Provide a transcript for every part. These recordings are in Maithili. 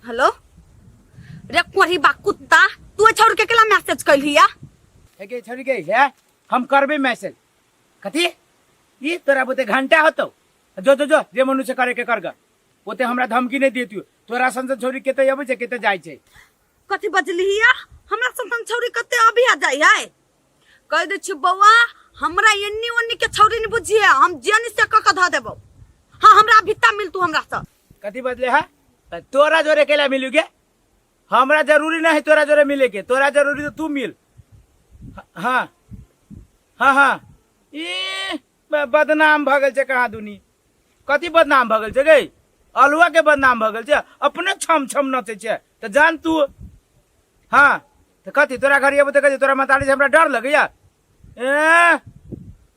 हेलो रे कोढ़ी बा कुत्ता तू ए छौड़ के केला मैसेज कैलही या हे गे छोरी गे हे हम करबे मैसेज कथी ई तोरा बोते घंटा होतो जो जो जो जे मनु से करे के कर ग ओते हमरा धमकी नहीं देती तोरा संसद छोरी केते अबै छै केते जाइ छै कथी बजलही या हमरा संतन छौड़ी कते अभी आ जाइ है कह दे छी बौआ हमरा एन्नी ओन्नी के छौड़ी नहीं बुझिए हम जेनी से क के ध देबो हाँ हमरा भित्ता मिल तू हमरा से कथी बदले है त तोरा जोरे केला मिलू के हमरा जरूरी नहीं है तोरा जोरे मिले के तोरा जरूरी तो तू मिल ह- हाँ हाँ हाँ ई ब- बदनाम भऽ गेल छै कहाँ दुनी कथी बदनाम भऽ गेल छै गै अलुआ के बदनाम भऽ गेल छै अपने छम छम नचै छै तऽ जान तू हाँ तऽ कथी तोरा घर अयबो तऽ कथी तोरा मतारी से हमरा डर लगैया ए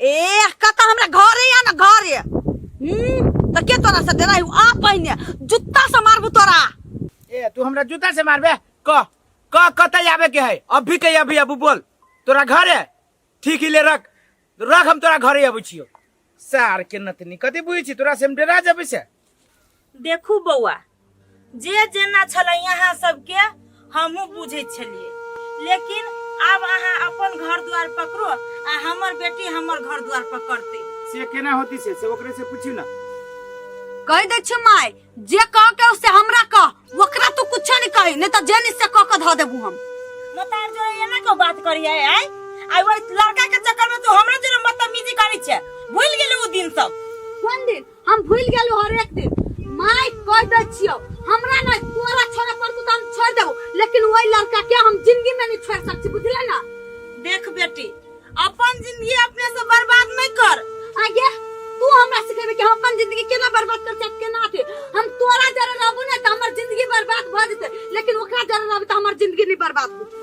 ए कत हमरा घरे या ना घरे हम्म, त के तोरा से डराई आ पहिने जुत्ता से मारबू तोरा ए तू हमरा जूता से मारबे क क कतई आवे के है अभी के अभी अबू बोल तोरा घरे ठीक ही ले रख रख हम तोरा घरे अबै छियो सार के नतनी कथी बुझै छी तोरा से हम डरा जबै से देखू बौआ जे जेना छलै अहाँ सबके हमहूँ बुझै छलियै लेकिन आब अहाँ अपन घर द्वार पकड़ो आ हमर बेटी हमर घर द्वार पकड़ते से केना होती से से ओकरे से पूछी ना कह दे छी माय जे कह के से हमरा कह ओकरा तू कुछ नहीं कही नहीं तो जेनी से कह के धो देबू हम मतार जो एना को बात करिए आय आई वो लड़का के चक्कर में तू हमरा जो बदतमीजी करी छे भूल गेले वो दिन सब कोन दिन हम भूल गेलू हर एक दिन माय कह दे छियो हमरा ना तोरा छोरा पर तू तो हम छोड़ देबो लेकिन वही लड़का के हम जिंदगी में नहीं छोड़ सकती बुझले ना देख बेटी अपन जिंदगी अपने से बर्बाद नहीं कर आगे तू हमरा सिखेबे कि हम अपन जिंदगी केना बर्बाद कर सकते केना अथी हम तोरा जरे रहबो ना त हमर जिंदगी बर्बाद भ जेते लेकिन ओकरा जरे रहबे त हमर जिंदगी नहीं बर्बाद होते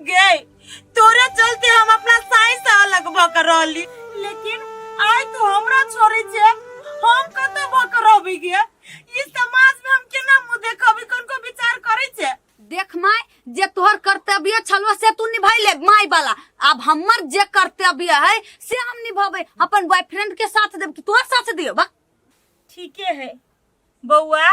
गए तोरे चलते हम अपना साई से अलग भक रहली लेकिन आय तू हमरा छोड़ी छे हम कत भक रहबी गे ई समाज में हम केना मुंह देखबी कोन को विचार करै छे देख माय जे तोहर कर्तव्य छलो से तू निभैले माय वाला अब हमर जे कर्तव्य है से हम निभाबे अपन बॉयफ्रेंड के साथ देब कि तोहर साथ दियो बा ठीके है बौआ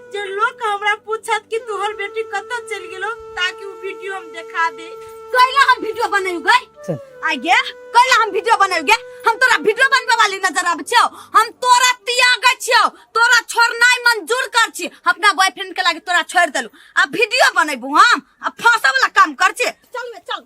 जे लोग हमरा पूछत कि तोहर बेटी कतऽ चलि गेलो ताकि उ वीडियो हम देखा दे कैला हम वीडियो बनायु गए चल। आ गे कैला हम वीडियो बनायु गे हम तोरा वीडियो बनबे वाली नजर आबै छियौ हम तोरा त्याग छियौ तोरा छोड़नाइ मंजूर कर छी अपना बॉयफ्रेंड के लागे तोरा छोड़ देलु आ वीडियो बनैबू हम आ फांसो वाला काम कर छी चल बे चल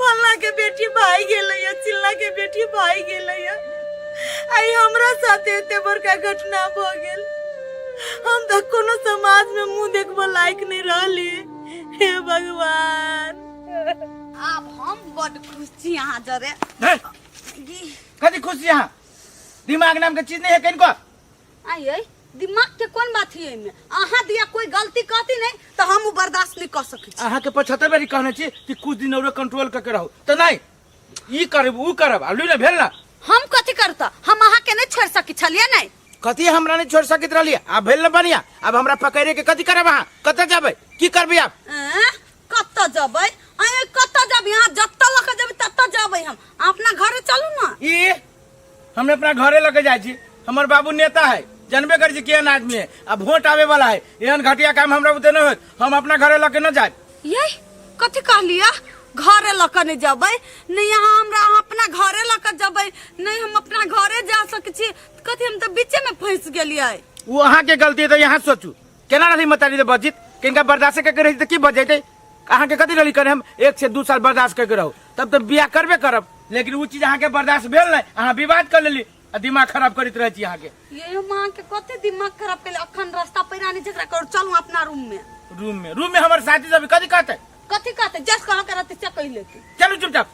फल्ला के बेटी भाई गेलै या चिल्ला के बेटी भाई गेलै या आई हमरा साथे एते बड़का घटना भ गेल हम त कोनो समाज में मुंह देखबो लायक नहीं रहली हे भगवान आब हम बड खुश छी अहाँ जरे कथी खुश छी अहाँ दिमाग नाम के चीज नहीं है कहीं को आइए दिमाग के कोन बात है एहिमे अहाँ दिया कोई गलती कहती नहीं तो हम उ बर्दाश्त नहीं कर सकै छी अहाँ के पचहत्तर बेरी कहने छी कि कुछ दिन और कंट्रोल करके रहू तो नहीं ई करब ऊ करब आलू ने भेल ना हम कथी करता हम अहाँ के नहीं छोड़ सकी छलिए नहीं कथी हमरा नहीं छोड़ सकत रहलिए आब भेल ना बढ़िया अब हमरा पकड़े के कथी करब अहाँ कतऽ जेबै की करबै आब एं? कतऽ जबै अरे कतऽ जब यहाँ जतऽ लऽ के जबै ततऽ जबै हम अपना घरे चलू ना ई हम अपना घरे लगे जाए छी हमर बाबू नेता है जानबे कर छी केहन आदमी है आ वोट आवे वाला है एहन घटिया काम हमरा बुते न होत हम अपना घरे लगे न जाए ये कथी कहलिया घरे लऽ कऽ नहि जबै नहि अहाँ हमरा अहाँ अपना घरे लऽ कऽ जबै नहि हम अपना घरे जा सकै छी कथी हम तऽ बीचेमे फँसि गेलियै वो अहाँ के गलती है तो यहाँ सोचू केना रही मतारी दे बजित किनका बर्दाश्त करके रही तो की बज जैते अहाँ के कथी रही करे हम एक से दू साल बर्दाश्त करके रहू तब तो बियाह करबे करब लेकिन वो चीज अहाँ के बर्दाश्त भेल नहीं अहाँ विवाद कर लेली आ दिमाग खराब करैत रहै छी अहाँ के ये माँ के कते दिमाग खराब कैले अखन रास्ता पैरा नहीं झगड़ा करू चलू अपना रूम में रूम में रूम में हमारे साथी सब कथी कहते कथी कहते जस कहा करते चकई लेते चलू चुपचाप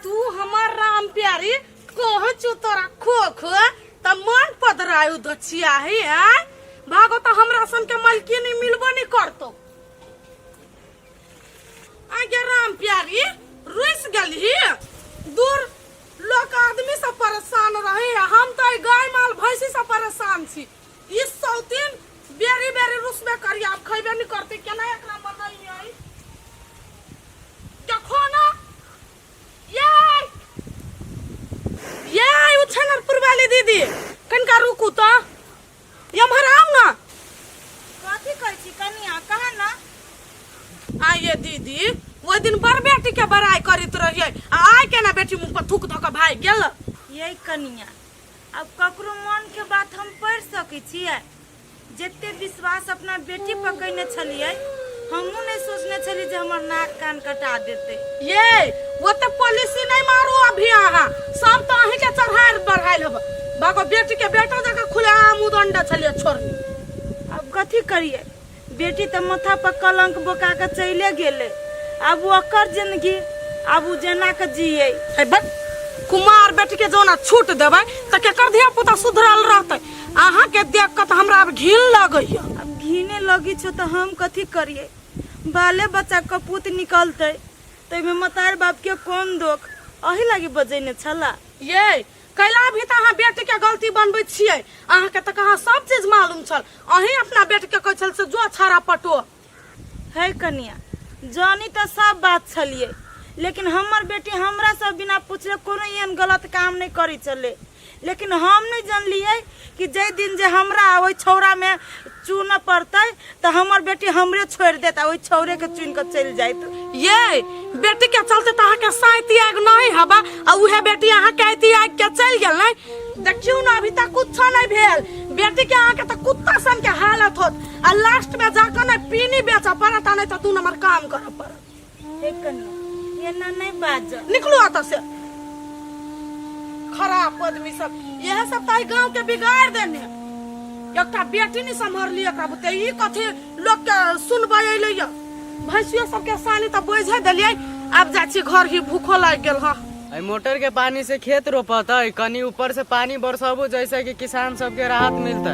तू हमार राम प्यारी कह चो तोरा खो खो त मन पदरायु दछिया है आय भागो त हमरा सन के मलकिन ही मिलबो नहीं करतो आगे राम प्यारी रुस गल ही दूर लोग आदमी से परेशान रहे हम तो गाय माल भैंसी से परेशान छी ई सौतीन बेरी बेरी रूस में करी आप खैबे नहीं करते केना एकरा मन नहीं आई देखो ना ये ये आई उछनरपुर वाली दीदी कनका रुकू तो ये हमारा आम ना कथी कहै छी कनिया कहा ना आइए दीदी वो दिन बड़ बेटी के बड़ाई करित रहिए आ आइ केना बेटी मुँह पर थूक धऽ के भागि गेल यही कनिया अब ककरो मन के बात हम पढ़ि सकै छियै जते विश्वास अपना बेटी पर कयने छलियै हमहूँ नहि सोचने छलियै जे हमर नाक कान कटा देतै ये वो तो पॉलिसी नहीं मारू अभी अहाँ सब तो अहीं के चढ़ाइल बढ़ाइल हब बाको बेटी के बेटा जगह खुले आम उदंड छलिए छोड़नी अब कथी करियै बेटी तऽ माथा पर कलंक बोका के चले गेले अब ओकर जिंदगी अब उ जेना के जिये ए बक कुमार बेटी के जोना छूट देबै तऽ केकर धिया पुता सुधरल रहतै अहाँ के देख के तऽ हमरा अब घिन लगैया अब घिने लगी छो तो हम कथी करिए बाले बच्चा कपूत निकलते तो में मतार बाप के कौन दोख अही लागी बजेने छला ये कैला भी तऽ अहाँ बेटी के गलती बनबै छियै अहाँ के तऽ कहाँ सब चीज मालूम छल अहीं अपना बेटी के कहै छल से जो छाड़ा पटो है कनिया जानी तऽ सब बात छलिए लेकिन हमर बेटी हमरा से बिना पूछले कोनो एहन गलत काम नहीं करी चले लेकिन हम नहीं जानलिए कि जै दिन जे हमरा ओहि छौड़ा में चुन पड़तै तऽ हमर बेटी हमरे छोड़ि देत आ ओहि छौरे के चुनि कऽ चलि जाइत ये बेटी के चलते तऽ अहाँके साइती आग नहि हबा आ उहे बेटी अहाँके आइती आग के चलि गेल नै देखियौ ने अभी तक कुछो नहि भेल बेटी के अहाँके तऽ कुत्ता सन के हालत होत आ लास्ट में जाकर नै पीनी बेचऽ पड़त आ नै तऽ दू नंबर काम करऽ पड़त हे कन्या एना नहीं बाज निकलू एतऽ से खराब आदमी सब यह सब ताई गांव के बिगाड़ देने एकटा बेटी नहीं संभरली एकरा बुते ई कथी लोग के सुनबै अइले य भैंसियो सब के सानी त बोझे देलियै आब जाइ छी घर ही भूखो लागि गेल हँ अइ मोटर के पानी से खेत रोपत है कनी ऊपर से पानी बरसबू जैसे कि किसान सबके राहत मिलते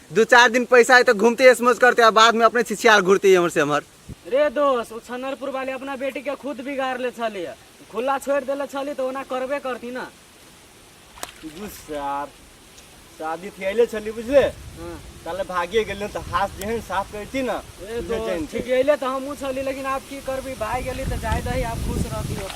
दू चार दिन पैसा है तो घूमते ऐश मौज करते हैं बाद में अपने छिछियार घूरते हैं हमर से हमर रे दोस्त ओ छनरपुर वाले अपना बेटी के खुद बिगाड़ ले छली है। खुला छोड़ देले छली तो ओना करबे करती ना गुस्सा शादी थियाइले छली बुझले हाँ। ताले भागिए गेले तो हाथ जेहन साफ करती ना ए उहे दोस्त चैन ठीक अइले तो हमहूँ छली लेकिन आप की करबी भाई गेली तो जाए दही आप खुश रहती हो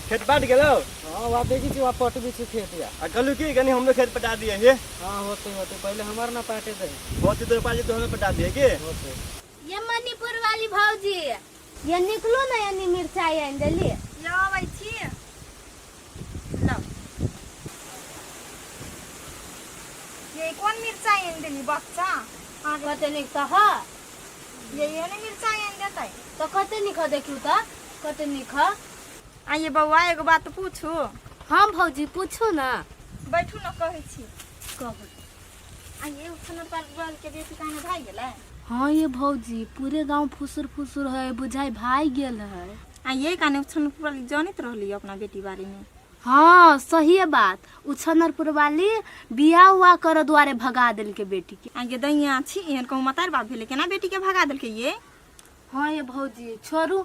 खेत बाट गेलो हाँ वहाँ देखी छी वहाँ पट भी छी खेत या आ कहलू की कनी हमरो खेत पटा दिए हे हाँ होते होते पहले हमार ना पाटे दे होती तो पाजी तो हमें पटा दिए के होते ये मणिपुर वाली भौजी ये निकलो ना यानी मिर्चाई आनि देली ये अबै छी लो ये कोन मिर्चाई आनि देली बच्चा अहाँ के कते निक तऽ ह ये ये ने मिर्चाई आनि देतै तऽ कते निक ह देखियौ तऽ कते निक ह आ ये बौआ एगो बात पूछू हाँ भौजी पूछू ना बैठू ना कहै छी कहू आ ये उठना पर बल के बेटी कहने भाई गेलै हाँ ये भौजी पूरे गांव फुसुर फुसुर है बुझाई भाई गेल है आ ये कहने उठन पर जानत रहली अपना बेटी बारे में हाँ सही है बात उछनरपुर वाली बिया हुआ कर द्वारे भगा दिल के बेटी के आ ये दैया छी एहन कहूँ मतार बाप भेले केना बेटी के भगा देलकै ये हाँ ये भौजी छोड़ू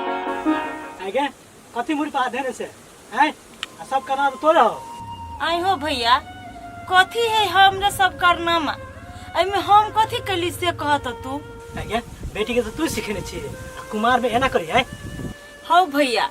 आगे कथी मुड़ी पर हाथ देने से हैं आ सब करना तो तोरे हो आई हो भैया कथी है हमरा सब कारनामा एहिमे हम कथी कैली से कहत तू आगे बेटी के तो तू सिखेने छी आ कुमार में एना करी हैं हौ भैया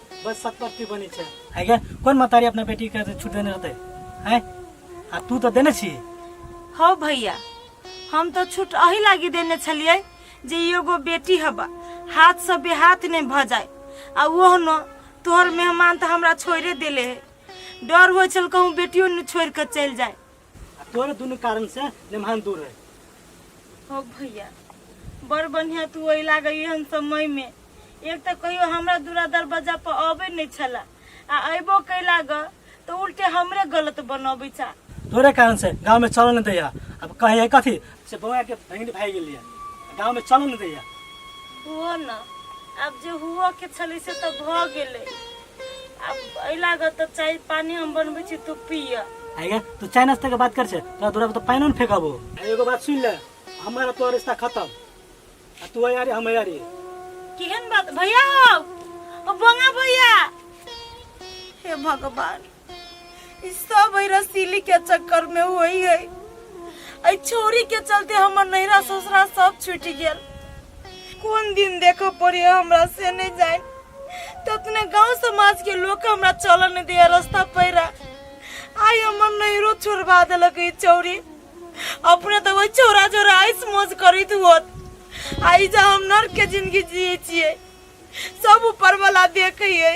बस सतपति बनी छै है गे कोन मतारी अपना बेटी के छूट देने रहते है आ तू तो देने छी हौ भैया हम तो छूट अही लागी देने छलिए जे एगो बेटी हबा हाथ से बेहाथ नहीं भ जाए आ ओह न तोहर मेहमान तो हमरा छोड़े देले है डर हो चल कहूँ बेटियो न छोड़ कर चल जाए आ तोरे दुनू कारण से लेमहान दूर है हो भैया बड़ बढ़िया तू ओहि लागे एहन समय में एक तऽ कहियो हमरा दूरा दरवाजा पर अबै नहि छला आ अयबो कैला ग तऽ उल्टे हमरे गलत बनबै छा तोरे कारण से गाँव में चल न दैया अब कहे है कथी से बौआ के भेंट भाई गेलिया गाँव में चल न दैया हुओ न आब जे हुओ के छलै से तऽ भऽ गेलै अब एहि लागत तऽ चाय पानी हम बनबै छी तू पिय आइया तू चाय नाश्ता के बात कर छे तोरा दूरा पर तो पानी न फेंकाबो एगो बात सुन ले हमारा तोरा रिश्ता खत्म आ तू यारी हम यारी केहन बात भैया हो ओ बंगा भैया हे भगवान ई सब है रसीली के चक्कर में होई है ऐ छोरी के चलते हमर नैरा ससुरा सब छूट गेल कोन दिन देखो पड़ी हमरा से नहीं जाए ततने गांव समाज के लोग हमरा चलन नहीं दिया रास्ता पैरा आई हमर नैरो छोड़वा देलक ई चौरी अपने तो वही चौरा चौरा आइस मौज करित होत आई जा हम नर के जिंदगी जिए छिए सब ऊपर वाला देखे है